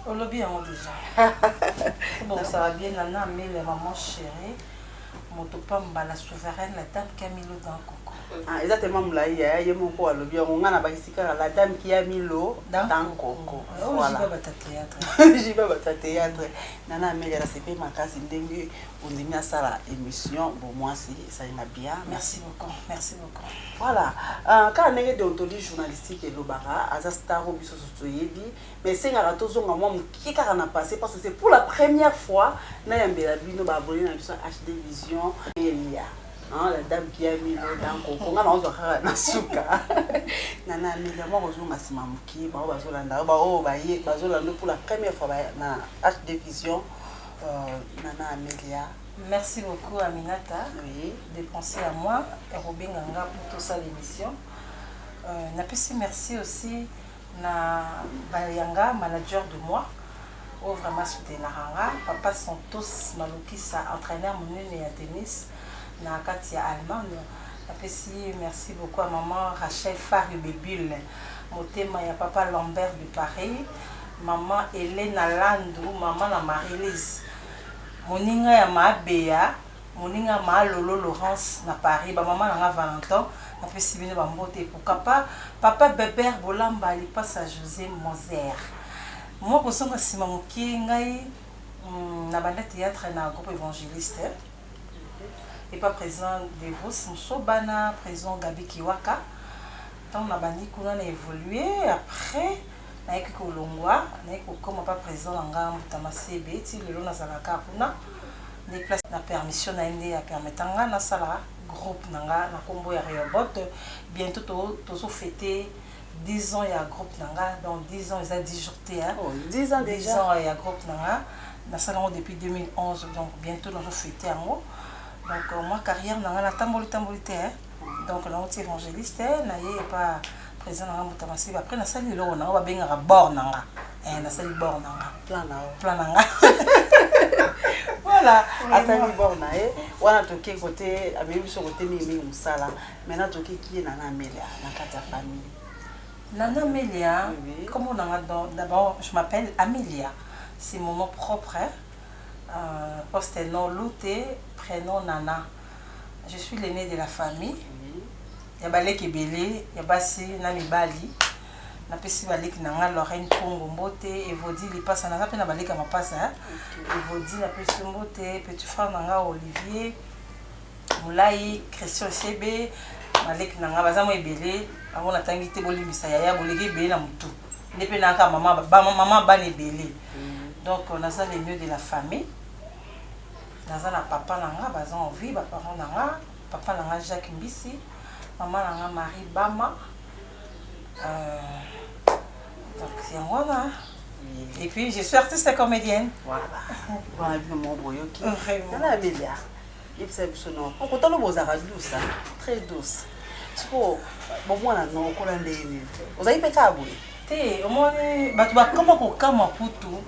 olobi yango deja kobongisaka bien na na amele maman chérie moto pamba la souveraine la dame camilo dans coco Ah, eza tellement molai yaya ye moko alobi yango ngai nabakisi kaka la dame kia milo dans coco Voilà. ojiba bata théâtre jiba bata théâtre Nana Amelia na sepeli makasi ndenge ondimi asala emission bo mwasi ezali na bia merci beaucoup merci beaucoup voilà uh, kaka ndenge deontologie journalistique elobaka aza star oyo biso susu toyebi mais esengaka tozonga mwa moke kaka na passé parce que c'est pour la première fois nayambela bino baabone na biso hd vision elia Ah, la dame qui a mis l'eau dans coco nga naozwa kaka na suka na na amelia mwa kozonga nsima moke bango bazolanda yo baoyo baye bazolanda yo pour la première fois ba- na hd vision euh, na na amelia Merci beaucoup Aminata oui. de penser à moi ya kobenga nga mpo tosala émission. Euh, napesi merci aussi Na Bayanga manager de moi oyo vraiment asoutenaka nga, papa Santos Malukisa entraineur munene ya tennis na kati ya Allemagne, napesi merci beaucoup ya maman Rachel Fary Bebule motema ya papa Lambert de Paris, maman Helena Landu maman na Marie Lise moninga ya Maabeya. Moninga ma Lolo Laurence na Paris, ba maman na nga Valenton na pesi bino ba mbote et pourquoi pas papa Beber Bolamba lipasa Jose Moser. Mua kozonga sima mokie ngai na banda theatre na groupe Evangeliste epa president Devos Musoba na president Gaby Kiwaka tango na bandi kuna na evoluer après Nayaki kolongwa, nayaki kokoma pa president na nga Mbuta Masebe, ti lelo nazalaka kaka kuna. Nde place na permission na ye nde a permetta nga nasala groupe na nga na kombo ya Rehoboth. Bientot to tozo feter 10 ans ya groupe na nga, donc 10 ans eza 10 jours te hein. Oh 10 ans dejà. 10 ans ya groupe na nga, nasali yango depuis 2011, donc bientot nazo feter yango. Donc mua carrière na nga natamboli tamboli te hein. Donc nauti evangeliste naye epa president nanga mbuta masiba après nasali eloko nanga babengaka bord nanga eh, nasali bord nanga plan nao plan nanga voilà asali bord na ye wana toke kote amemi biso kote mingi mingi mosala maintenant toke kie na na amelia na kati ya famille Nana Melia, oui. comme on a d'abord, je m'appelle Amelia. C'est mon nom propre. Hein. Euh, poste nom Louté, prénom Nana. Mm. Je suis l'aine de la famille ya ba leki ebele ya basi na mibali na pesi ba leki na nga Lorraine Pongo mbote Evodi Lipasa naza pe na ba leki ya mapasa hein. okay. Evodi na pesi mbote petit frère na nga Olivier Mulayi Christian Sebe ba leki na nga baza mo ebele bango natangi te bolimbisa yaya boleki ebele na mutu nde pe naka mama ba mama bana ebele mm. donc naza le mieux de la famille Naza na papa na nga baza en vie ba parents na nga papa na nga Jacques Mbisi maman na nga Marie Bama euh, donc yango wana et puis je suis artiste et comédienne voilà wana bino moko boyoki tala ya belia yebisa biso no mpo kotala bozalaka douce très douce sikoyo bomwana no okola ndenge nini ozali mpe kaka boye te omoni bato bakoma kokamwa kutu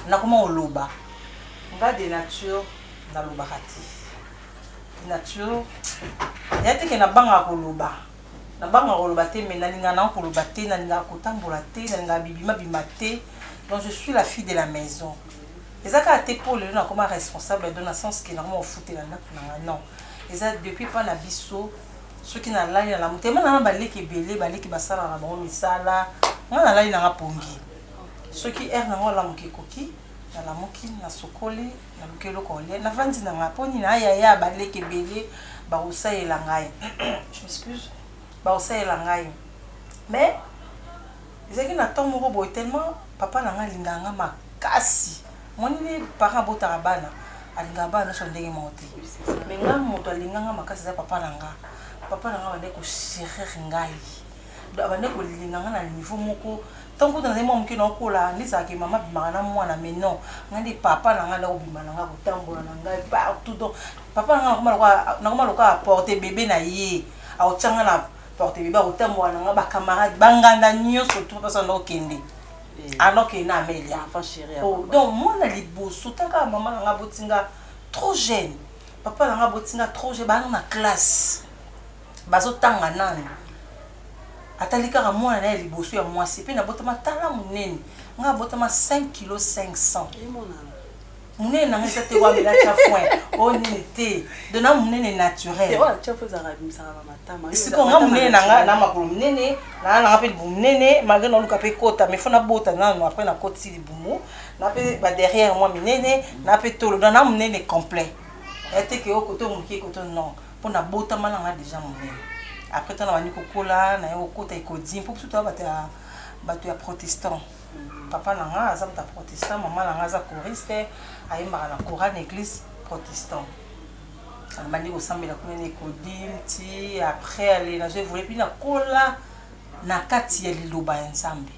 Nakoma koloba nga de nature nalobaka te de nature ya te ke nabangaka koloba nabangaka koloba te mais nalingaka nango koloba te nalingaka kotambola te nalingaka bibima bima te donc je suis la fille de la maison eza kaka te po lelo nakoma responsable donc na sens ke nakoma kofutela ndaku na nga non eza depuis epa na biso soki nalali nalamu te ma nanga baleki ebele baleki basalaka na bango misala nga nalali nanga pongi Soki heure na nga ya lamuka ekoki, na lamuki, na sukoli, na luki eloko ya kolia, na vandi na nga. Po nini? Haa yaya, ba leki ebele ba ko salela ngai. Je m'excuse. Ba ko salela ngai. Mais, ezalaki na temps moko boye, tellement papa na nga alingaka nga makasi. Omoni ndenge parent abotaka bana? Alingaka bana nionso ndenge moko te. Mais nga mutu alinga nga makasi eza papa na nga. Papa na nga abandaki ko cherir ngai. abandaki kolinga nga na niveau moko tangu kutu nazali mwa moke naokola nde ezalaka ke mama abimaka na mwana mais non nga nde papa na nga nde akobima na nga kotambola na ngai partout donc papa na nga nakoma lokola nakoma lokola aporte bebe na ye aotya nga na porte bebe akotambola na nga bacamarade banganda nyonso tu papa sanda okende alors ke na amelia oh, donc mwana liboso taka mama na nga aboti nga trop jeune papa na nga aboti nga trop jeune baa na classe Bazo tanga nanu atali kaka mwana naye ya liboso ya mwasi pe na botama tala munene nga abotama 5 kilo 500 munene nanga eza te wamela tya foin o nini te dona munene naturel siko nga munene nanga na makolo munene naa nanga pe libumu munene malgre naoluka pe kota mais fo nabota nanu apres nakotisi libumu na pe ba derrière mwa minene na pe tolo dona munene complet ete ke o koto moke koto non Po na botama na nga dejà munene après tango na bandi ko kola na ye ko kota ecodim po biso toza batu ya batu ya protestant papa na nga aza moto ya protestant maman na nga aza choriste ayembaka na chorale na eglise protestant na bandi ko sambela kuna na ecodim ti après ale na zo evolue puis na kola na kati ya liloba ya nzambe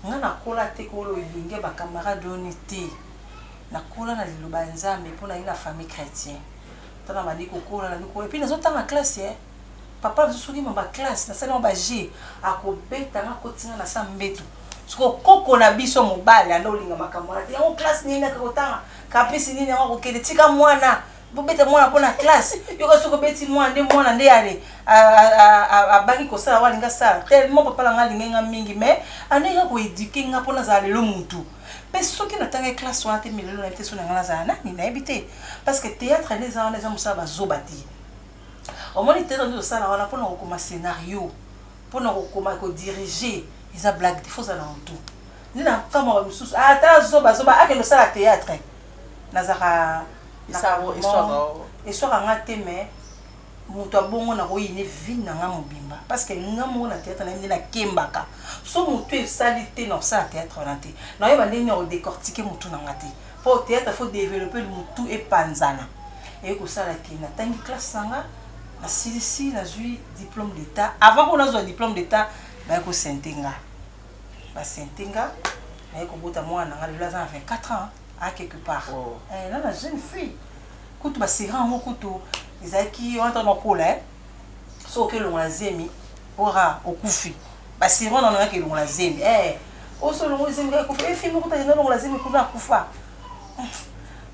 nga na kola te ko loyenge ba camarade oni te na kola na liloba ya nzambe po na ye na famille chretien Tala na bandi kokola na lokola epuis nazo tanga classe eh papa nazo soki ma ba classe na sali yango ba jeux ako beta nga akotisi nga na sa mbetu sikoyo koko na biso mobali anda olinga makambo wana te yango classe nini aka kotanga caprice nini yango akokende tika mwana bobeta mwana mpo na classe yoka soki obeti mwana nde mwana nde ale abangi kosala yango alinga sala tellement papa na nga alingai nga mingi mais andenge akoeduke nga mpo nazala lelo mutu Pe soki na tangaki classe wana te milelo nayebi te soki na nga nazala nani nayebi te parce que theatre nde eza wana eza musala ba zoba te omoni theatre nde tosala wana pona kokoma scenario pona kokoma ko diriger eza blague te faut ozala na mutu nde na kamwa ba misusu ah tala zoba zoba akende osala theatre nazaka eswaka nga te mais Mutu ya bongo nako yine vie na nga mobimba parce que nga moko na theatre naye nde na kembaka so mutu esali te nako sala theatre wana te nako yeba ndenge nini nako decortiquer mutu na nga te po theatre il faut developper mutu epanzana eye kosala que na tangi classe na nga na silisi nazui diplome d'etat avant oyo nazua diplome d'etat baye ko sente nga ba sente nga naye kobota mwana na nga lelo aza na 24 ans a quelque part oh. eh, na na jeune fille Kutu ba sirop yango kutu ezalaki wana tango nakola eh soki oke longola zemi ora okufi ba sirop wana nayaki elongola zemi eh oso olongoli zemi kaka ekufi eh fille moko akenda olongola zemi kuna akufa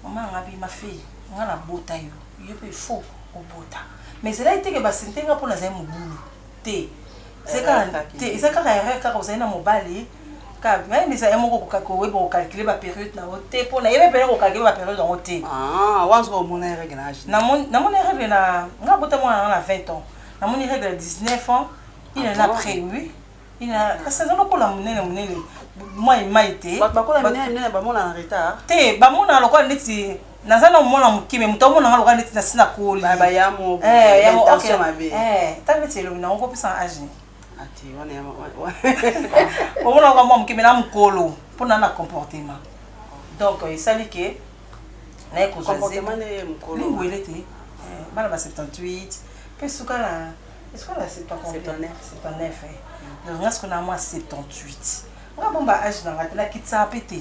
mama nanga bi ma fille nga nabota yo yo pe il faut obota mais ezalaki te ke ba sinte nga po nazali mobulu te eza kaka te eza kaka erreur kaka ozali na mobali kaka mais eza ye moko koka koyeba ko calculer ba période na yo te po na yebe pena ko calculer ba période yango te ah wanzo ko mona ye règle na âge na moni na moni règle na nga bota mwana na na 20 ans na moni règle na 19 ans il en a près oui il en a kasi aza lokola munene munene mai mai te bato bakola munene munene ba mona na retard te ba mona lokola neti naza na mwana moke me moto amona nga lokola neti nasi na koli ntango neti elobi nango kopesana age omona lokola mwa moke me na mokolo mpo na na comportement donc esali ke naye kozwalingwele te eh, bana ba 78 mpe suka na esuka na 79 donc nga siko na mwa 78 nga bomba age na nga te nakitisa mpe te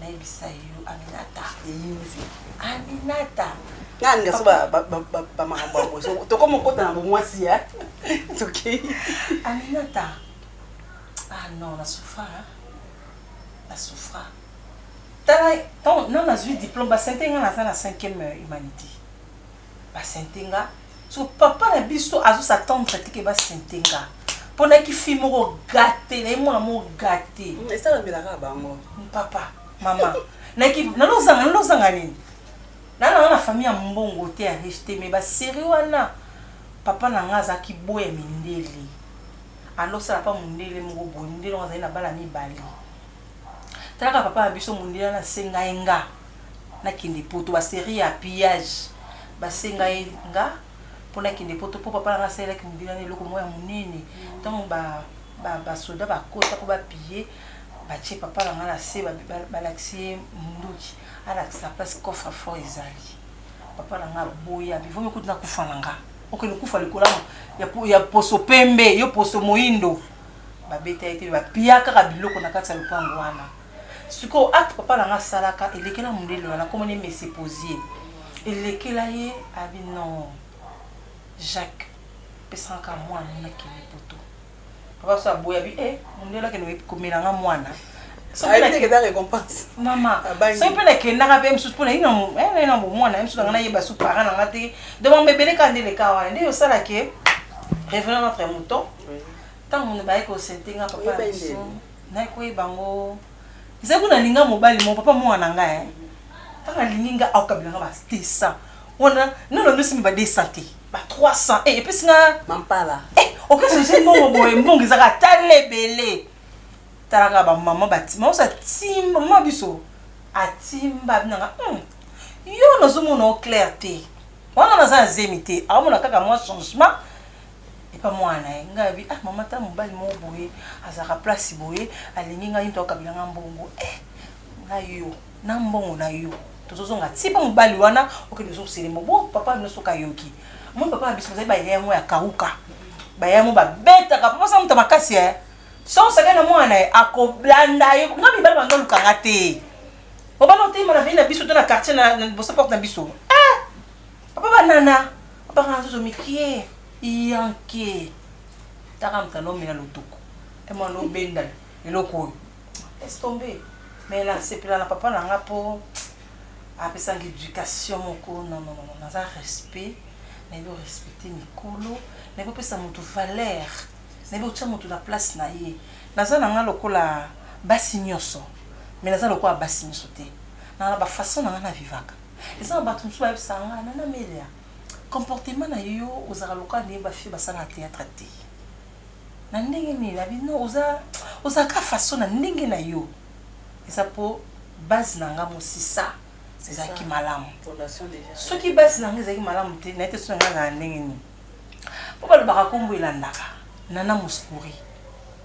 nayebisa yo aminata eyinzi aminata nani kasi bamakambo yango so tokoma okota na bomwasi ya tokei aminata ah non na souffra na souffra tala non nazwi diplôme basente nga naza na cinquième humanité ba sente nga soki papa na biso azo sa tendre te ke ba sente nga pona ki fille moko gate na ye mwana moko gate mm, esala mbela kaka bango mm, papa mama na ki na lo zanga na lo zanga nini na na na famille ya mbongo te ya riche te mais ba série wana papa na nga aza ki boya mindele alo sala pa mundele moko boye mundele ngo azali na bana mibale talaka papa na biso mundele na senga enga na kende poto ba serie ya pillage ba senga ye nga po na kende poto po papa na nga asalelaki mobili wana eloko moko ya monene tango ba ba soda ba kota po ba pille ba tie papa na nga na se ba lakisi ye munduki a lakisa place coffre fort ezali papa na nga aboya bi vomi kutu na kufa na nga okende kufa likolo ya ya poso pembe yo poso moyindo ba beta ye te ba pilla kaka biloko na kati ya lopango wana Sikoyo acte papa na nga asalaka elekela mundele wana kombo naye Monsieur Posier elekela ye abi non Jacques pesa nga ka mwana na kende poto papa biso aboyi abi eh mundele akende komela nga mwana mama soki mpe nakendaka mpe mosusu mpo naina na bomwana ye mosusu nanga nayeba su para na nga te donc mambo ebele kaka nde leka wana nde osala ke revenant notre mouton ntango mono baye kosente nga papa Ngai koyeba ngo ezali kuna linga mobali mo papa mwana na ngai ntango alingi ngai akabela ngai bastesa wana nono ndosi mi ba 200 te ba 300 e epesi nga mampala e okesese mbongo boye mbongo ezaka ata lebele talaka bamama batima osa timba mama biso atimba binanga hmm, yo nazomona o claire te wana naza na zemi te aomona kaka mwa changement epa mwana na ye ngai abi ah mama ta mobali moko boye azalaka place boye alingi ngai nto akabila ngai mbongo eh na yo na mbongo na yo tozozonga ti mpe mobali wana okende lisusu selemo bo papa na bino soki ayoki moi papa na biso bazali baya yango ya kauka baya yango babetaka papa sa moto makasi ya soki osakani na mwana na ye akolanda yo nga mibali bango olukanga te obana oteyima na vei na biso to na quartier na boso porte na biso Papa ba nana abaka na zozo mikie yanke taka moto alomela lotoko ema lobenda eloko oyo laisse tomber mais la sepela na papa na nga po apesanga education moko non non non naza respect nayebi orespecte mikolo nayebi opesa moto valeur nayebi otya moto na place na ye naza na nga lokola basi nyonso mais naza lokola basi nyonso te nanga na bafaçon na nga na vivaka Eza na batu mususu bayebisaka nga nana melia comportement na yo ozalaka lokola ndenge ba fille basalaka theatre te na ndenge nini na bi non oza ozalaka kaka façon na ndenge na yo eza po base na nga musisa ezalaki malamu soki base na nga ezalaki malamu te naye te soki na nga ezalaka ndenge nini po balobaka kombo elandaka nana mouskouri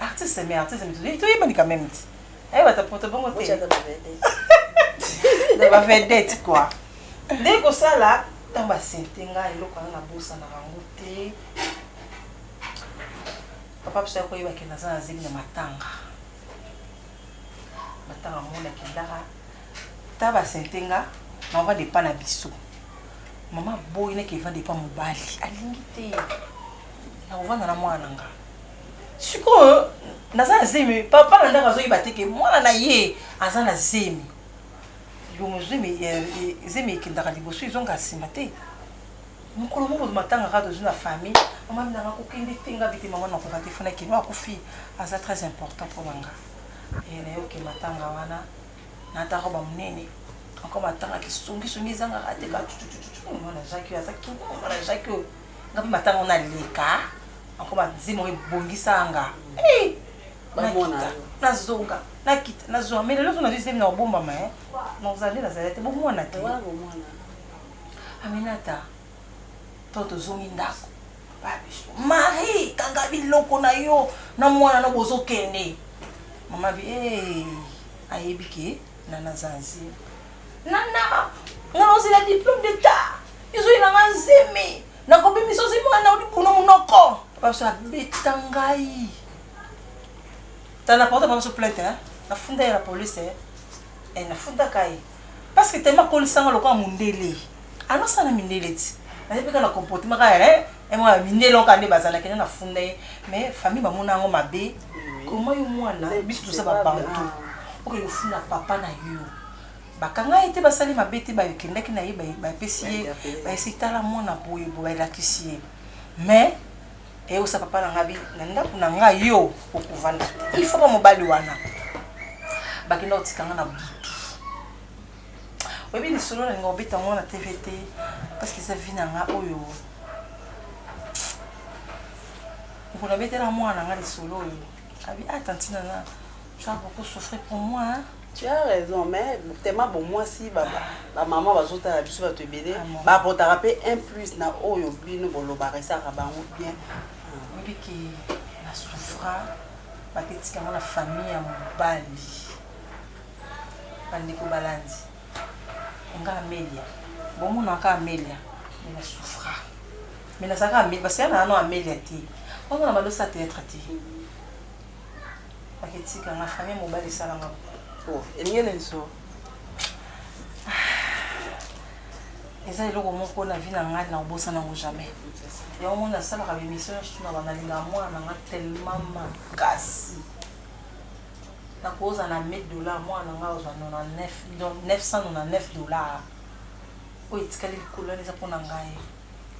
Artiste mais artiste mais tu es mani quand même. Eh bata poto bongo te. Ocha ba vedette. Da ba vedette quoi. Nde ko sala tant ba sente nga eloko na bosa na bango te. Papa psa ko yeba ke na zana zeli na matanga. Matanga mona ke ndara. Ta ba sente nga na va depa na biso. Mama boy ne ke va depa mobali. Alingi te. Na kovanda na mwana nga. sikoyo naza na zemi mais papa na ndako azoyeba te ke mwana na ye aza na zemi libumu zemi eh, eh, zemi ekendaka liboso ezonga nsima te mokolo moko matanga kaka tozwi na famille mama minanga kokende te nga bite mama nakoka te fona keno akufi aza très important mpo na nga eh, nayoke matanga wana nataka bamonene encore matanga kisongisongi ezangaka te kaka mwana jacques oyo aza kimwana jacques oyo nga mpe matango na leka anko banzembo ebongisa nga hey! nakita nazonga nakita nazonga mais lelo nazwi zemi na kobombama eh? nazali nazali te bomwana te aminata to tozongi ndako babiso marie kanga biloko na yo na mwana no bozokende mama bi hey! ayebi ke na nazanzi Nana nga na ozela diplome d'etat izui na nga zemi na ko bimisa ozi mwana na odi buno munoko papa so abeta ngai tala porte papa so plainte hein na funda ya la police hein eh, na funda kai parce que tellement kolisa nga lokola mundele Alo sala mindele ti naza pe kaka na comportement kaka eh eh mwana mindele oyo kaka nde baza nakenda na funda ye mais famille ba mona yango mabe comment yo mwana biso toza ba bantou oke kofunda papa na yo ba kanga ye te ba sali mabe te ba kendaki na ye ba pesi ye ba esi tala mwana boye boye ba lakisi ye mais et osa papa na ngabi na ndaku na nga yo okovanda te il faut ba mobali wana ba kenda otika nga na butu oyebi lisolo na linga obeta yango na tv te parce que eza vi na nga oyo mokolo abetela mwana na nga lisolo oyo abi a ah, tantina na tu as beaucoup souffri pour moi hein? tu as raison mais tellement bon mwasi bamama bazotala biso bato ebele ah, bapotaka mpe un plus na oyo bino bolobaka esaka bango bien oyebi ke na souffra baketikanga na famille ya mobali Bandeko balandi nga Amelia, bomona kaka Amelia mais na souffra mais nazalaka Amelia parce que yana nano Amelia te ozo na balosa theatre te baketika nga famille mobali esala nga oh, elingele nso eza eloko moko na vie na ngai na kobosa nango jamais yango mona asalaka bemission nyonso na banalingaka mwana na ngai tellement makasi Na ko oza na 1000 dollars mwana na ngai azwa 99 donc 999 dollars oyo etikali likolo wana eza pona ngai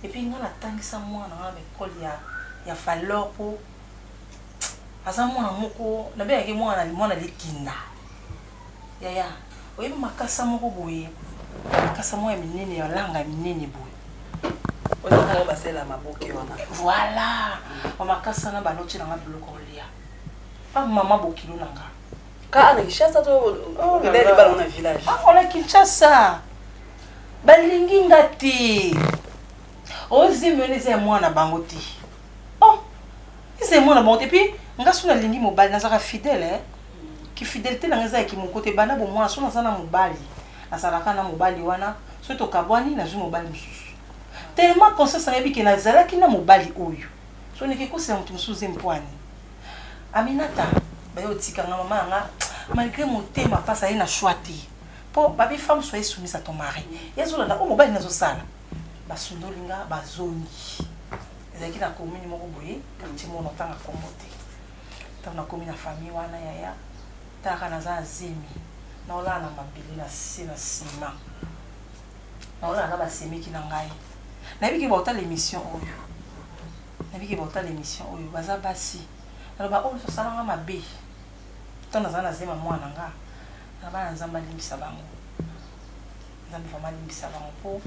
et puis ngai na tangisa mwana na ngai na ecole ya ya falor po aza mwana moko na bengaka ye mwana na mwana likinda yaya oyebi makasa moko boye makasa moko ya minene ya langa ya minene boye basela maboke wana voilà bamakasa na baloti nanga biloko olia Ah maman bokilo na nga. Ka na Kinshasa to oh, ndele libala na village. Ah on a Kinshasa. Balingi nga te. Ozi mele ze mwana bango te. Oh. Ze mwana bango te puis nga suna lingi mobali nazaka fidèle eh. Ki fidélité na nga za ki moko te bana bo mwana suna za na mobali. Azalaka na mobali wana soki tokabwani nazwi mobali mosusu tellement conscience na yebi ke nazalaki na mobali oyo so niki kosela moto mosusu ze mpwani Aminata ba yo tika nga maman na nga malgre motema pasi aye na choix te po ba bi femme soyez soumise à ton mari ye azo landa oyo mobali naye azo sala ba sundoli nga ba zongi ezalaki na commune moko boye quartier moko na tanga kombo te tango na komi na famille wana yaya tala kaka naza na zemi nao lala na mabele na se na ciment nao lala na ba semeki na ngai nayebi ke ba otala emission oyo Nayebi ke bako tala emission oyo baza basi alors ba oyo nioso basala nga mabe temps nazala na zemi ya muana na nga na bana nzambe alimbisa bango nzambe vraiment alimbisa bango po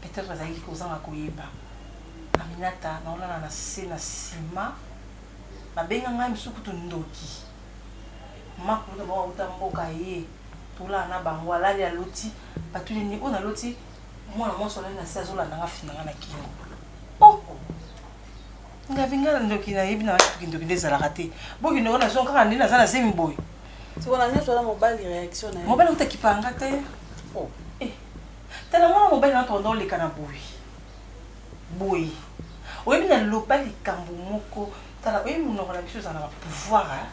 peut etre bazalaki kozanga koyeba aminata nao lala na se na sima ba benga ngai misusu kutu ndoki mama kulutu bango bawuta mboka ye tolala na bango alali aloti batuni ye nini oyo na loti Mwana mwasi olali na se azolanda nga fina nga na kingo. Oh! Nga binga na ndoki na yebi na nga kitu kindoki nde ezalaka te. Boki ndoki na zonga kaka nde naza na zemi boy. Siko na nyoso wana mobali reaction na ye. Mobali kuta kipa nga te. Oh! Eh! Tala mwana mobali na tonda oleka na boy. Boy. Oyebi na loba likambo moko. Tala oyebi monoko na biso ezala na pouvoir.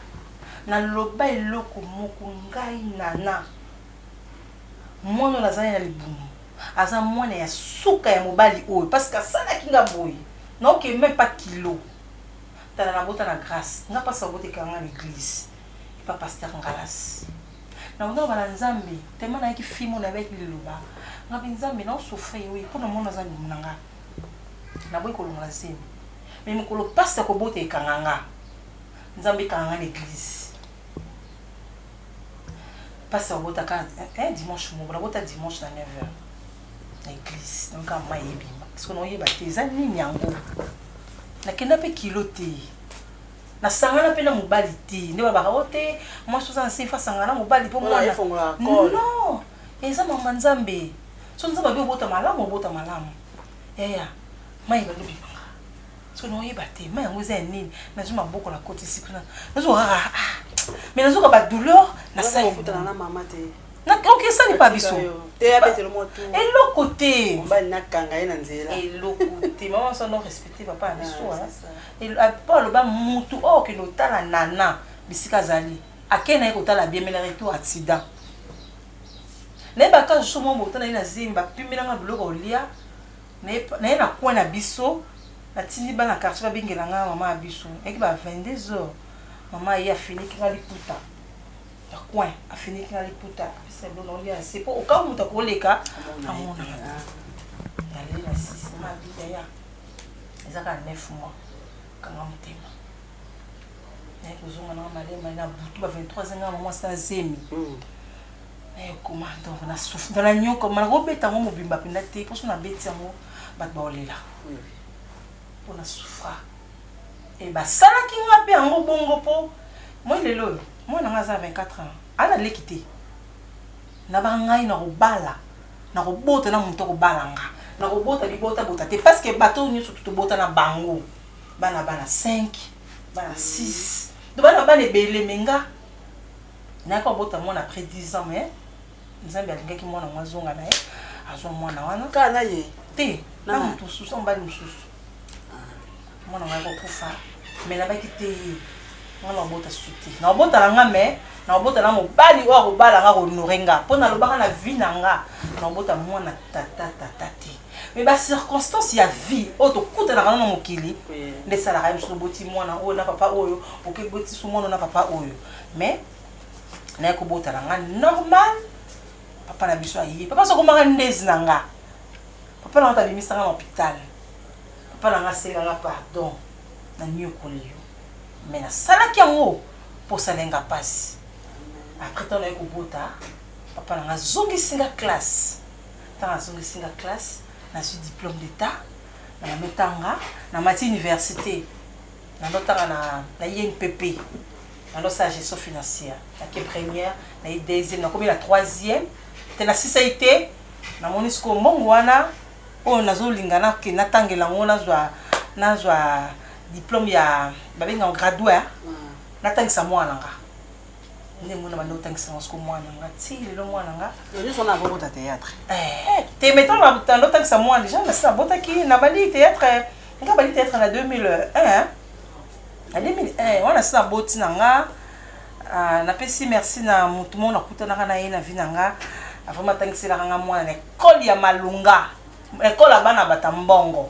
Na loba eloko moko ngai nana. Mwana oyo nazalaki na libumu aza mwana ya suka ya mobali oyo parce que asalaki nga boye nao ke meme pas kilo tala na bota na grace nga pasi mabota ekanga nga na eglise epa pasteur ngalas na bota loba na nzambe tellement nayaki fimo na baki liloba nga pe nzambe nao souffrir oui pona mwana aza libumu na nga na boyi kolongola zemi mais mokolo pasi ya kobota ekanga nga nzambe ekanga nga na eglise Pasteur obota ka eh dimanche moko na bota dimanche na 9h na église na ka mayi ebima parce que na oyeba te eza nini yango na kenda pe kilo te na sangana pe na mobali te nde ba baka ote oh, moi soza nse fa sangana mobali po mwana non eza mama nzambe so nzambe abe obota malamu obota malamu yaya mayi balobi Soki na oyeba te, ma yango eza ya nini? Nazwi maboko na kotisi kuna. Nazo ah ah. ah. Mais nazo ka ba douleur na sali. Nazo kutana na mama te. Na donc esa ni pa biso. Te ya betelo mo tout. Eloko te. Mba na kanga ye na nzela. Eloko te. Mama so no respecter papa na biso. Et ah, pa loba mutu oh que no tala nana bisika zali. Akena ye kotala bien mais na retour accident. Na ba kazu so mo botana ye na zimba pimbela nga biloko olia. Naye na coin na biso natindi bana ya quartier babengela nga maman ya biso eyaki ba 22 heures maman aye afiniki nga liputa ya coin afiniki nga liputa apesa biloko naolia na se po okango moto akoleka amona naleli na sisi mama abida ya eza kaka 9 mois kanga motema naye kozonga nanga malemale na butu ba 23 nga maman asala zemi naye okoma donc na souffre donc na nyoka ma nakobeta yango mobimba mpenza te mposo nabeti yango bato baolela mpo na souffra e basalaki nga mpe yango bongo mpo moi lelo oyo mwana ngai aza na 24 ans ana leki te na bangai nakobala nakobota na moto akobala nga nakobota libota bota te parce que bato oyo nyonso tobota na bango bana bana 5 bana 6 to bana bana ebele me nga Nayaki kobota mwana après 10 ans mais Nzambe alingaki mwana yango azonga na ye, azwa mwana wana. Kaka na ye? Te, na moto mosusu, na mobali mosusu. Mwana yango ayaki kokufa mais nabaki te ye. Ngai nakobota susu te. Nakobota na ngai mais nakobota na mobali oyo akobala ngai, ako honorer ngai. Po nalobaka na vie na ngai, nakobota mwana tata tata te. Mais ba circonstances ya vie oyo tokutanaka na yango na mokili nde esalaka ye. Mosusu oboti mwana oyo na papa oyo, oke boti susu mwana oyo na papa oyo. mais naye kobota na nga normal papa na biso aye papa so akomaka ndezi na nga papa na nga tabimisa nga na hopital papa na nga asenga nga pardon na nyokoli yo mais nasalaki yango mposala nga mpasi après ntango naye kobota papa na nga azongisi nga classe ntango azongisi nga classe nazwi diplôme d'état na yametanga na mati université Nando tanga na na INPP nando sala gestion financière na ke première na ye deuxième na komi na troisième te na sisa ye te na moni siko mbongo wana oyo na zo linga na ke na tangela ngo na zwa na zwa diplome ya ba benga ngo graduat na tangisa mwana nga nde mona banda otangisa yango siko mwana nga ti lelo mwana nga nyonso na akokota théâtre eh, te metan banda otangisa mwana deja nasi nabotaki nabandi théâtre nga bandi théâtre na 2001 na 2001 wana si naboti na nga ah, napesi merci na motu moko nakutanaka na ye na vi na nga vraiment atangiselaka nga mwana na ekole ya malunga ekole ya bana bata mbongo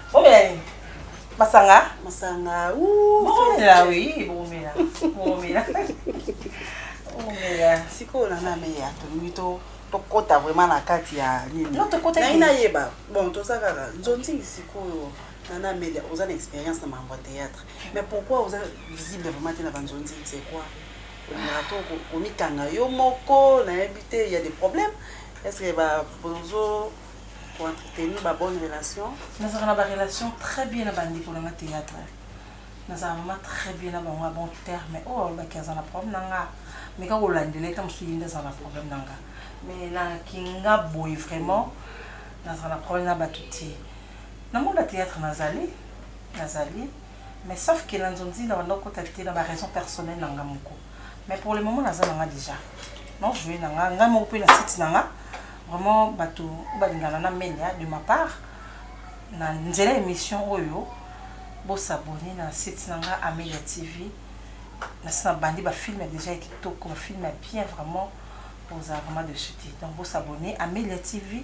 Bomela masanga. Masanga. Ouh. Bomela oui, bomela. Bomela. Bomela. Siko na na meya to mito tokota vraiment na kati ya nini. Non tokota. Na ina yeba. Bon toza kaka nzonzi sikoyo. Nana Amelia, vous avez une expérience dans mon théâtre. Mais pourquoi vous êtes visible vraiment dans la Banzonzi C'est quoi Au Mikanga, Yomoko, on a invité, il y a des problèmes. Est-ce que bah, bonjour ko entretenir ba bonne relation. Nazalaka na ba relation très bien na ba ndeko na nga theatre nazalaka vraiment très bien na bango na bon terme oyo alobaki aza na problème na nga meka kolandela ye tango mosusu ye nde azala na problème na nga mais na kinga boye vraiment nazala na problème na bato te na monde ya theatre nazali nazali mais sauf que na nzonzina banda kokota te na ba raison personnel na nga moko Mais pour le moment naza na nga dejà. Non jouer na nga, nga moko pe na site na nga. Vraiment batu ba lingana na menia de ma part na nzela emission oyo bo s'abonner na site na nga Amelia TV. Na sina bandi ba film dejà ya kitoko, ba film ya bien vraiment. Boza vraiment de suite. Donc bo s'abonner Amelia TV.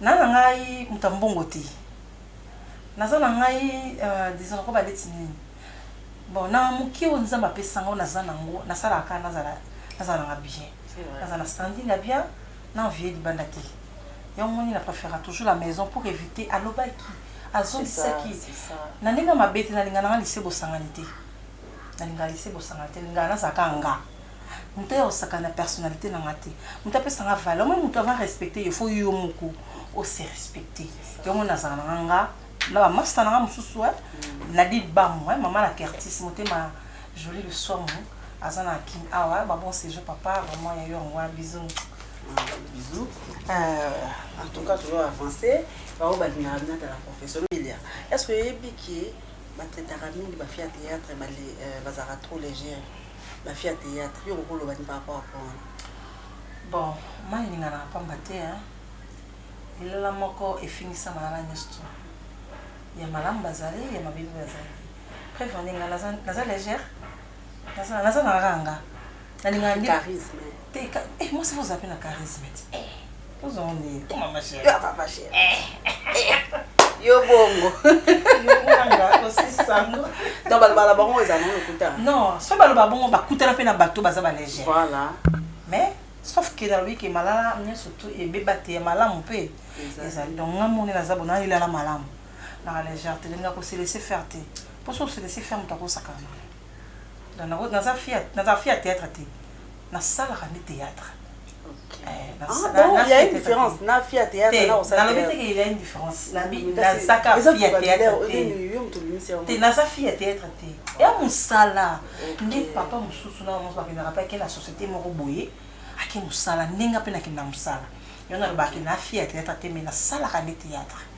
Naza na ngai moto ya mbongo te naza na ngai disons nakoba neti nini bon na moke oyo nzambe apesa nga oyo naza na yango nasalaka kaka nazala nazala nanga bien naza na standing ya bien na envier libanda te yango moni na prefera toujours la maison pour eviter alobaki azongisaki na ndenge ya mabe te nalinga nanga lise bosangani te nalinga lise bosangani te nalinga nazala kaka nga Mutu aya kosakana na personnalite na nga te. Mutu apesa nga valeur. Omoni mutu avant a respecter yo il faut yo moko o se respecter. Yango nazala na nga nga na ba masta na nga mususu eh Nadine Gbamu eh mama na Curtis motema Jolie Lusuamu aza na kin awa eh ba bon sejour papa vraiment ya yo yango wana bisous. Bisous euh en tout cas toujours avancer ba oyo balingaka bino ata na profession Emilia est ce que oyebi que ba traitaka mingi ba filles ya theatre ba bazalaka trop legere? ba fille ya theatre yo okoki oloba nini par rapport ya point wana? Bon ma eningana ya pamba te hein lilala moko efingisama na bana nioso tout ya malamu bazali ya mabe pe bazali preuve nde nga naza naza legère naza naza na ranga nalingana nde Charisme. te ka eh mwasi faut ozala pe na charisme ti eh yo bongo donc baloba na bango eza nango lokuta non so baloba bongo bakutana mpe na bato baza balégère voilà mais sauf que nalobi ke malala nyonso tu ebeba te ya malamu mpe ezali donc nga moni naza bona elala malamu na légère te ndenge akoselese faire te mpo so oselese faire moto akosakana Naza fière naza fière ya theatre te nasalaka nde theatre nalobi teke ya indifférence nazaka fi ya theatre te naza fi ya theatre te ya mosala nde papa mosusu na mosusu bakendaka mpe ake na société moko boye ake mosala ndenge mpe nakenda mosala yo nalobaki na fi ya theatre te mai nasalaka nde theatre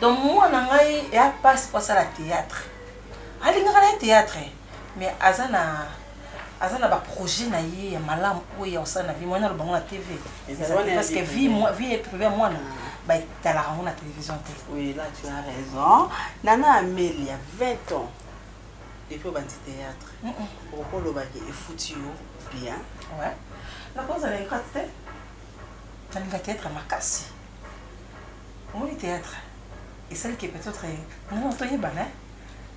Donc mwana ngai ya pasi po asala theatre. Alingaka na ye theatre mais aza na aza na ba projet na ye ya malamu oyo ya kosala na vie mwana aloba ngo na TV. Parce que vie vie est privée mwana. Ba talaka ngo na télévision te. Oui là tu as raison. Nana Amelia 20 ans depuis obandi théâtre okolobaki efuti yo bien nakozala ekati te nalinga théâtre makasi Omoni theatre esali ke peut etre nga na toyebana hein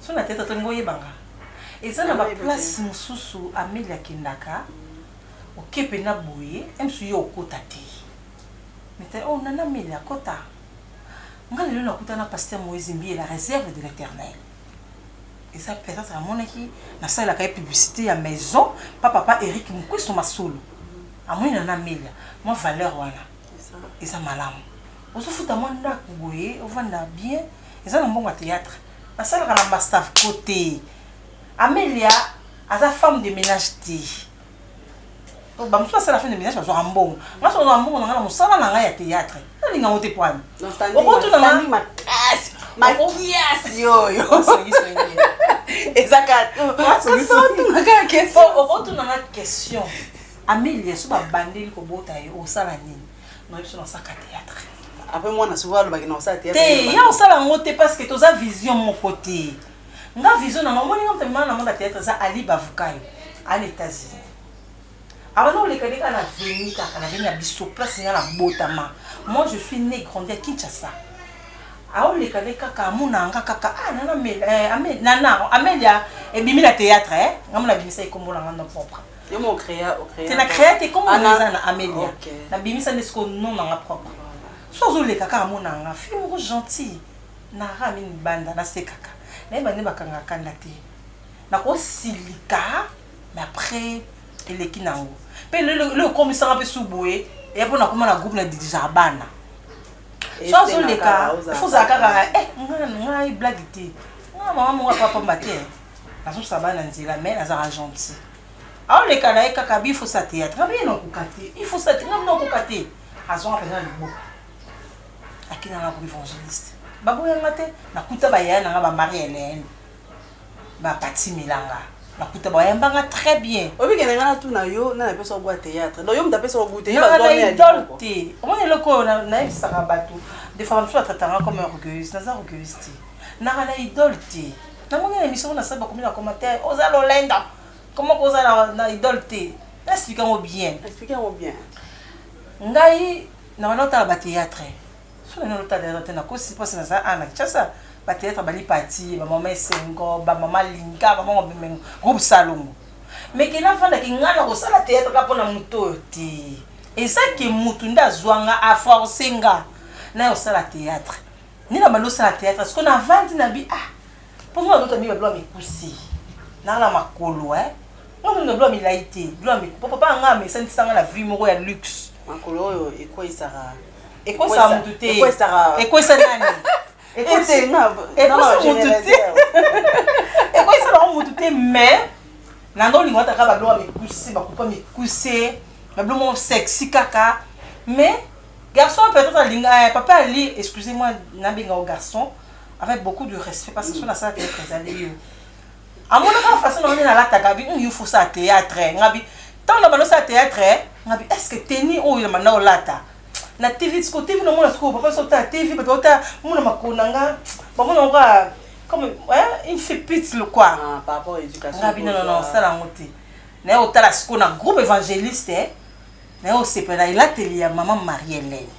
soki na theatre tolingi oyebanga eza na ba place mususu Ameli akendaka oke pena boye ems yo okota te meta oh nana Ameli akota nga lelo nakuta na pasteur Moise Mbiye la reserve de l'eternel eza peut etre amonaki nasalelaka ye publicité ya maison pa papa Eric Mukwesu Masolo amoni nana Amelia mwa valeur wana eza malamu ozofuta mwa ndako boye ovanda bien eza na mbongo ya théâtre nasalaka na bastaf ko te amelia aza femme de ménage te bamosusu basala femme de ménage bazwaka mbongo nga so nazwaka mbongo na nga na mosala na ngai ya théâtre nalinga ngo te poani okotunanga makasi makiasi oyo eza kaka okotunanga question Amelia so ba bandeli ko bota ye osala nini? Non biso na saka théâtre. Après moi na souvent alobaki na osala théâtre. Te ya osala ngo te parce que toza vision moko te. Nga vision na ngo moni nga mtemana na mona théâtre za Ali Bavukayo à l'États-Unis. Alors nous les Kaneka na venu kaka na venu na biso place nga na botama. Moi je suis né grandi à Kinshasa. aoleka nde kaka amona nga kaka ah, nana eh, amelia ebimi na théâtre eh? ngamona abimisa ekombo na nga no propre Yo mo créa, o créa. Te na créa te comme on est na Amelia. Okay. Na bimisa nde siko non na nga propre. So ozo leka kaka mona nga fille moko gentille. Na ra mini banda na sekaka. Na yeba nde bakanga kanda te. Na ko silika mais après eleki na ngo. Pe le le le komisa nga pe sous boye. Ya pona koma na groupe na didija bana. So ozo leka, faut zakaka eh nga nga blague te. Nga mama mwa papa mbate. Nazo saba na nzela mais azaka gentil. Azo leka na ye kaka bi faut sa théâtre. Ngabi na kokate. Il faut sa théâtre. Ngabi na kokate. Azo nga pena libo. Akina nga ko évangéliste. Babo ya ngate na kuta ba yaya na nga ba Marie Hélène. Ba pati milanga. Na kuta ba yamba nga très bien. Obi kena nga tout na yo na na pesa ko gwa théâtre. Donc yo mta pesa ko goûter. Na na idole te. Omoni eloko na na ebisaka bato. Des fois mso atata nga comme orgueilleuse. Naza orgueilleuse te. Na na idole te. Na moni na emission na sali ba komi na commentaire oza lolendo comment ko oza na idole te na expliquer ngo bien expliquer ngo bien ngai na bana otala ba théâtre so na nolo tala théâtre te na kosi parce na za ana chasa ba théâtre bali pati ba mama esengo ba mama linga ba mama bimengo groupe salongo mais ke na fanda ki ngana ko sala théâtre ka pona moto te eza ke mutu nda zwanga a forcer nga na yo sala théâtre Ni na bando sala theatre siko na vandi na bi ah pomo na lota mi ba mi kusi na la makolo eh ngo mi ba mi laite ba mi papa pa nga me sani sanga na vie moko ya luxe makolo oyo ekoi sara ekoi sa mutu te ekoi sara ekoi sa nani ekoi sa mutu te ekoi sa na mutu te mais na ndo lingo ataka ba mi kusi ba kupa mi kusi ba mo sexy kaka mais Garçon peut etre alinga eh, papa ali excusez moi nabenga yo garçon avec beaucoup de respect parce que soki nasala théâtre ezali yo amonaka façon nango nde nalataka bi yo faut sala théâtre eh. ngabi ntango na bando sala théâtre eh. ngabi est ce que teni oyo na banda olata na tv siko tv namona sikoyo papa so otala tv bato otala mona makolo na nga bamona ngo kaka comme une fille pite le quoi ah, ngabi non non non sala yango te naye otala sikoyo na groupe évangéliste eh. naye osepela elateli ya mama marie helene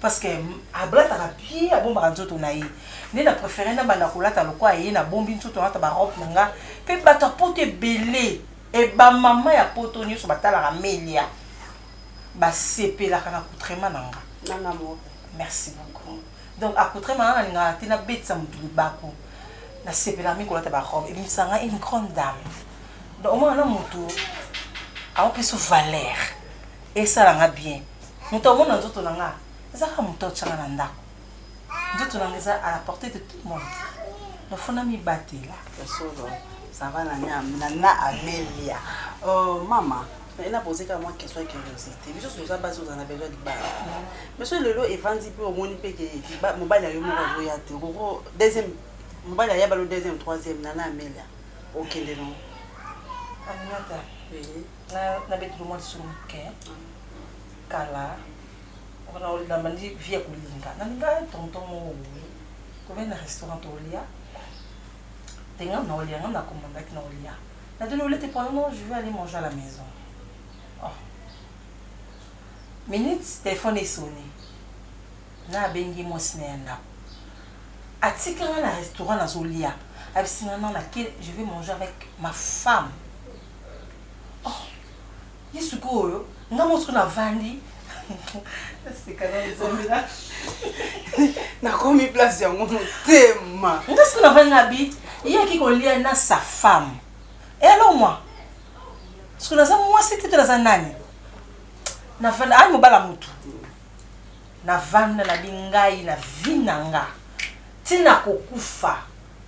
parce que alataka bien abombaka nzoto na ye nde na préféré na banda kolata lokola ye nabombi nzoto nalata barobe na nga mpe bato ya poto ebele e bamama ya poto nyonso batalaka melia basepelaka na coutrema na nga merci beaucoup Donc apotrait manga nalingaka te nabetisa motu libaku nasepelaka mingi kolata barobe ebimisaka nga une grande dame donc omona na motu aopesu valeur esala nga bien moto amona nzoto na nga eza kaka moto aotyanga na ndako nzoto na nga eza à la portée de tout monde nofo namibatela solo sava na amelia oh, mama naye na poser kaka mwa question ya curiosité biso toza basi ozala na besoin libala mais soki lelo evandi mpe omoni mpe ke mobali ya yo moko azoya te okoko deuxième mobali aya balo deuxième troisième nana amelia okende no aminata nabetilo mwa lisolo moke kala wana olamba ndi vie ya kolinga nalinga tonton moko boye tovai na restaurant tolia tenga na olia nga nakomandaki na olia Na tuni bolete pour le moment je veux aller manger à la maison oh minutes telephone e sonne na abengi mwasi na ya ndako atika nga na restaurant nazo lia abisi nga non na ke je veux manger avec ma femme Ye sikoyo nga mo sikoyo navandi naseka na nzambe na nakomi place yango motema nga sikoyo navandi na bi ye aki kolia na sa femme e alors moi sikoyo naza mwasi te to naza nani navanda ayi mobala motu navanda na bi ngai na vi na nga ntina kokufa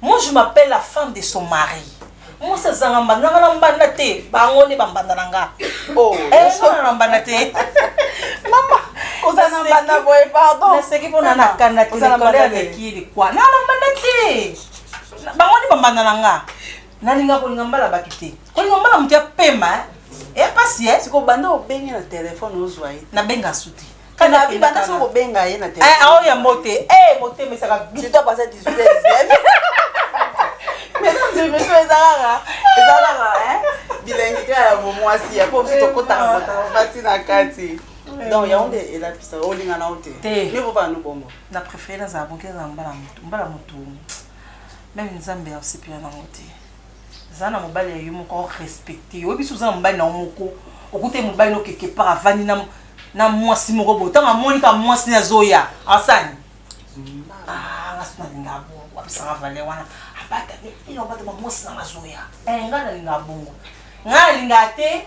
Moi je m'appelle la femme de son mari. Mwasi azanga mbanda nga na mbanda te, bango nde bambanda na nga. Oh, eh, nga na mbanda te. Mama, oza na mbanda boye, pardon. Naseki mpo na nakanda te, likolo ya leki likwa. Na na mbanda te. Bango nde bambanda na nga. Nalinga kolinga mbala baki te. Kolinga mbala moto ya pema, eh. Eh, pasi, eh. Siko banda obengi na telefone ozwa ye. Nabenga su te. Kana bi banda so ko benga ye na telephone. Eh, awo ya mbote. Eh, motema esaka. Tu dois passer 18 heures 19. Mais non, je me suis ezalaka. Ezalaka, hein. Bilengi kaka ya bomwasi ya po biso tokotaka motaka bati na kati. Donc yango nde elapisa olingana o te. Te. Mivo ba no bongo. Na préfère nazala boke na mbala motu. Mbala motu. Meme Nzambe aosepela nango te. Zala na mobali ya yo moko au respecter yo biso zala mobali na yo moko okute mobali no quelque part avandi na na mwasi moko bo tanga moni ka mwasi na zoya asani ah nga suna linga bo wapisa nga valeur wana abata ni ino abata ba mwasi na nga zoya eh nga na linga bongo nga na linga te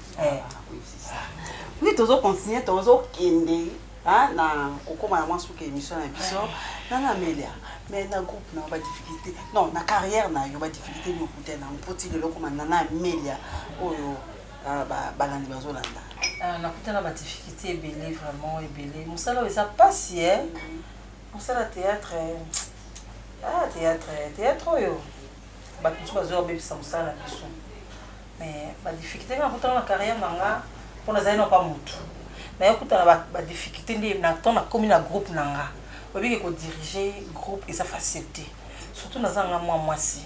Eh. Oui, tozo continuer, tozo kende hein, na kokoma na mwansu ke émission na biso. Nana Amelia, mais na groupe na ba difficulté. Non, na carrière na yo ba difficulté ni okuta na mpoti lelo koma Nana Amelia oyo ah, ba balandi bazo landa. Ah, nakuta na ba difficulté ebele vraiment ebele. Musala oyo eza pasi eh. Musala théâtre eh, ah théâtre eh, théâtre oyo bato mosusu bazo bebisa musala na biso. Mais ba difficultes nga nakutana na carrière na nga po nazali na pa mutu naye kutana ba ba difficultes nde na temps nakomi na groupe na nga oyebi ke ko diriger groupe eza facile te surtout naza na nga mua muasi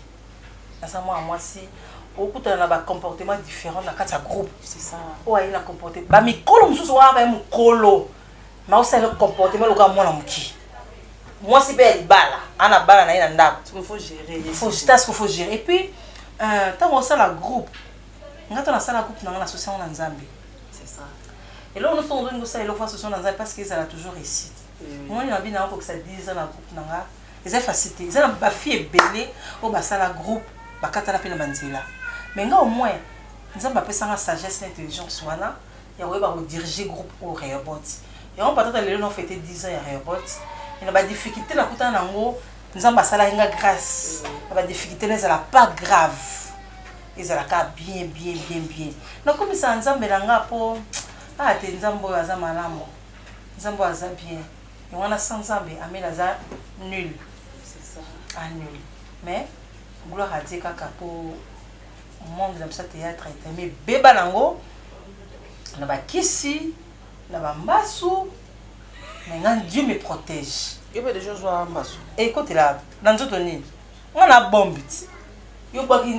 naza mua muasi okutana na ba comportement different na kati ya groupe oyo aye na comporte ba mikolo mususu wana baye mukolo Makosa na comportement lokola mwana mokie. Mwasi pe ya libala, ana bana na ye na ndako. Il faut gerer ye. Faut ta ce qu'il faut gerer. Et puis euh tango osala groupe, nga tango nasala groupe na nga na sosi yango na Nzambe. C'est ça. Eloko nioso ozo linga osala eloko fa sosi yango na Nzambe parce que ezala toujours réussite. Omoni na bino na kokisa 10 ans na groupe na nga, eza facile te. Eza na ba filles ebele oyo basala groupe, bakatana pe na ba nzela. Mais nga au moins Nzambe apesa nga sagesse na intelligence wana. ya koyeba ko diriger groupe oyo Rehoboth. Yango po ata ta lelo nao feter dix ans ya Rehoboth, mais na ba difficultes na kutana na yango, Nzambe asalaki nga grace, na ba difficultes na ezala pas grave, ezala kaka bien, bien, bien, bien. Na kumisaka Nzambe na nga po ah te Nzambe oyo aza malamu, Nzambe oyo aza bien. Yango wana sans Nzambe, Amel aza nul, ah nul. Mais gloire à Dieu kaka po monde na biso ya theatre etema ebeba na yango na bakisi na bambasu mais nga dieu me protège yo mpe deja ozwa mbasu ekotela na nzoto nini nga na bombi ti yo obwaki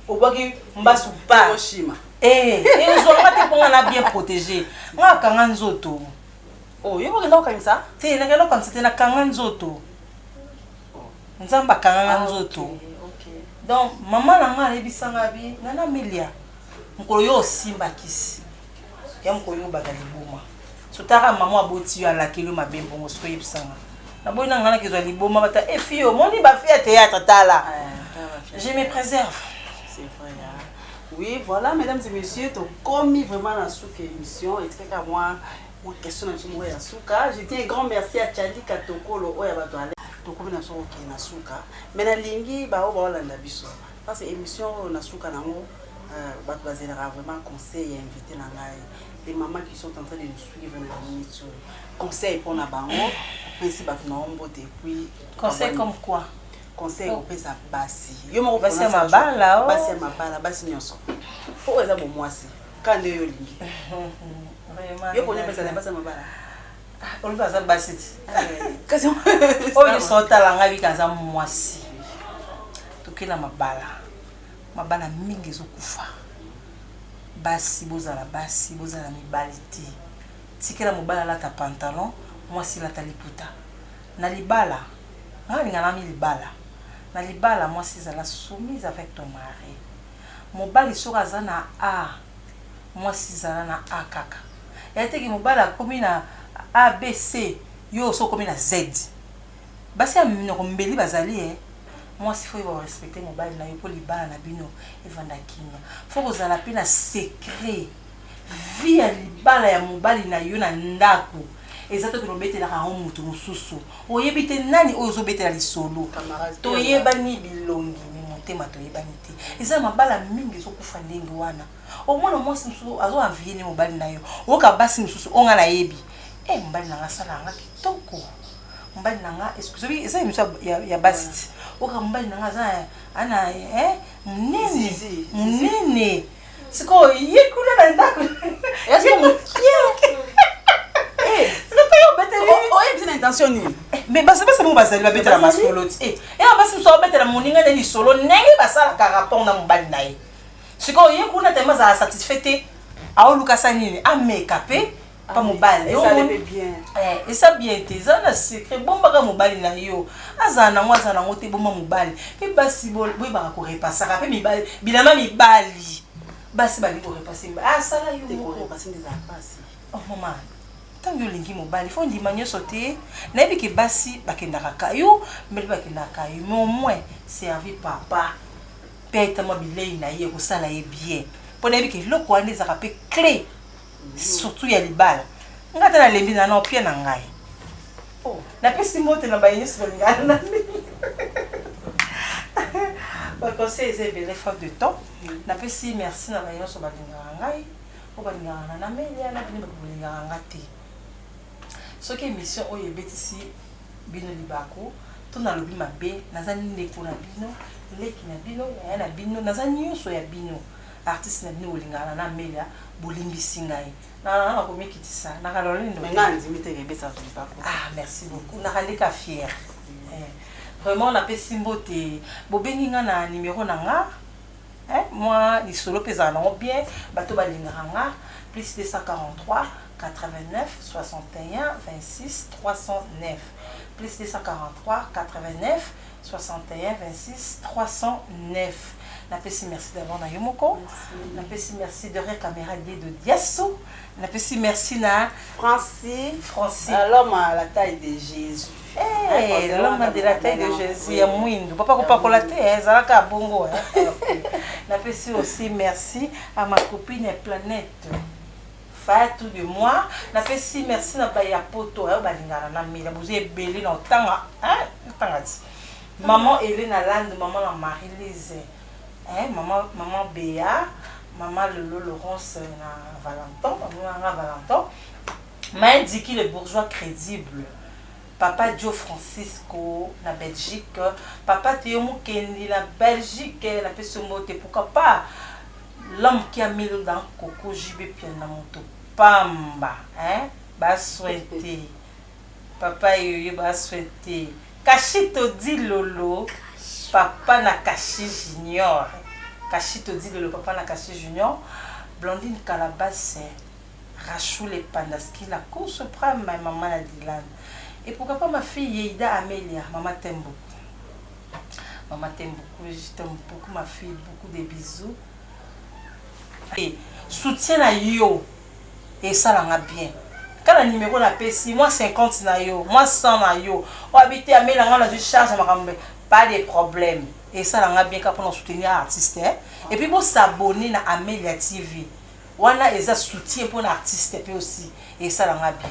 obwaki mbasu pa oshima eh, ezwa nga te mpo nga na bien protège nga akanga nzoto oh, yo okenda kokangisa te nakenda kokangisa te nakanga nzoto Nzambe akanga nga nzoto donc maman na nga ayebisa nga bi nana milia mokolo yo osimba kisi ya mokolo yo obanda liboma sotaka maman aboti yo alakeli yo mabe mbongo soki oyebisa nga naboyi na nga nakezwa liboma bata efi eh, omoni bafi ya théâtre tala ah, je me préserve Oui, voilà, mesdames et messieurs, tokomi vraiment na suka émission. Etikaka mwa Mwa question na biso moko ya suka. Je dis un grand merci à Chadi Katokolo oyo ya ba toilettes. Tokomi na biso kokende na suka mais nalingi ba oyo baolanda biso parce emission oyo na suka nango batu bazelaka vraiment conseil ya invite na ngai les mamans qui sont en train de nous suivre na minutes oyo conseil mpo na bango opesi bato na yo mbote epuis Conseil comme quoi? conseil opesa basi yo moko Basi ya pona sa mabala, joie. oh. basi ya mabala basi nyonso mpo oyo eza bomwasi kande yo olingi yo konya pesa na basa mabala olobi aza basi ti oyo nyonso otala ngai bika aza mwasi tokela mabala mabala mingi ezokufa basi bozala basi bozala mibali te tikela mobali alata pantalon mwasi elata liputa na libala ngai alinganami libala na libala mwasi ezala soumise avec ton mari mobali soki aza na A mwasi zala na A kaka ya te ke mobali akomi na ABC yo osi okomi na Z basi ya minoko mbeli bazali eh mwasi fo oyeba ko respecter mobali nayo po libala na bino evanda kimia fo kozala pe na secret Vie ya libala ya mobali na yo na ndaku eza te ken obetelaka yango mutu mususu oyebi te nani oyo ozo betela lisolo toyebani bilongi mais motema toyebani te eza mabala mingi ezo kufa ndenge wana omona mwasi mususu azo envie nde mobali na yo oyoka basi mususu oyo nga nayebi eh mobali na nga asala nga kitoko mobali na nga excuse moi eza emission ya, ya basi ti oyoka mobali na nga aza ana eh munene munene sikoyo ye kuna na ndako oyebisi na intention nini mais basi basi bango bazali babetela masolo ti eh, eya basi mosusu abetela moninga nde lisolo ndenge basalaka rapport na mobali na ye sikoyo ye kuna tema azala satisfait te aoluka sa nini ameka mpe pa mobali eh, eza bien te eza na secret bombaka mobali na yo azala nango azala nango te bomba mobali mpe basi boyebaka korepasaka mpe mibali bilama mibali basi bali korepase asala ah, yo oh, mama ntango yo olingi mobali fo ndima nyonso te nayebi ke basi bakendaka kayo mbele bakendaka kayo mais au moins servi papa mpe ayetamwa bilei na ye ekosala ye bien mpo nayebi ke eloko wana ezalaka mpe cle surtout ya libala nga ata nalembi na nao pia na ngai oh, napesi mbote na baye nyonso balingana na ndenge baconseil eza ebele faute de temps napesi merci na baye nyonso balingaka ngai oyo balingaka na namelia na bino bato bolingaka nga te soki émission oyo ebetisi bino libaku to nalobi mabe naza ndeko na bino leki na bino yaya na bino naza nyonso ya bino Artiste na bino bolingana na Amelia bolimbisi ngai na na na komikitisa na kalole ndo mais nga andimi te kebesa tulipa ko ah merci beaucoup na kaleka fier eh, vraiment na pesi mbote bobengi nga na numero na nga eh moi lisolo pesa na ngo bien bato balingaka nga plus 243 89 61 26 309 plus 243 89 6136309 na pesi merci d'abord na yo moko na pesi merci de rire camera de de diasso na pesi merci na Francis Francis euh, l'homme à la taille de Jésus Hey, eh, l'homme de la taille de Jésus ya mwindu papa kopakola te eh, ezalaka bongo eh. na pesi aussi merci à ma copine planète Fatou de moi na pesi merci na bayi ya poto oyo balingaka na mela boza ebele na otanga hein na tanga ti maman Helena lande maman na Marie Lise hein maman maman Bea maman lolo Laurence na Valenton maman na nga Valenton main Dicky le bourgeois credible papa Djo Francisco na Belgique papa Theo Mukendi na Belgique na pesi yo mbote pourquoi pas L'homme qui a mis l'eau dans coco JB Mpiana moto pamba hein ba soin te papa yoyo ba soin te Cachito Dilolo papa na Cashi Junior Cachito Dilolo papa na Cashi Junior Blandine Calabasse Rachoule Pandaskila Cour Supreme maman na Dylan et pourquoi pas ma fille Yeida Amelia maman t'aime beaucoup. Maman t'aime beaucoup et je t'aime beaucoup ma fille beaucoup de bisous. Et soutien na yo et ça l'a bien. Quand la numéro na pesi moi 50 na yo, moi 100 na yo. O habite à mela nga na je charge ma kambe. Pas de problème. Et ça l'a bien pour soutenir artiste. Hein? Et puis vous s'abonner na Amelia TV. Wana eza soutien pour l'artiste puis aussi. Et ça l'a bien.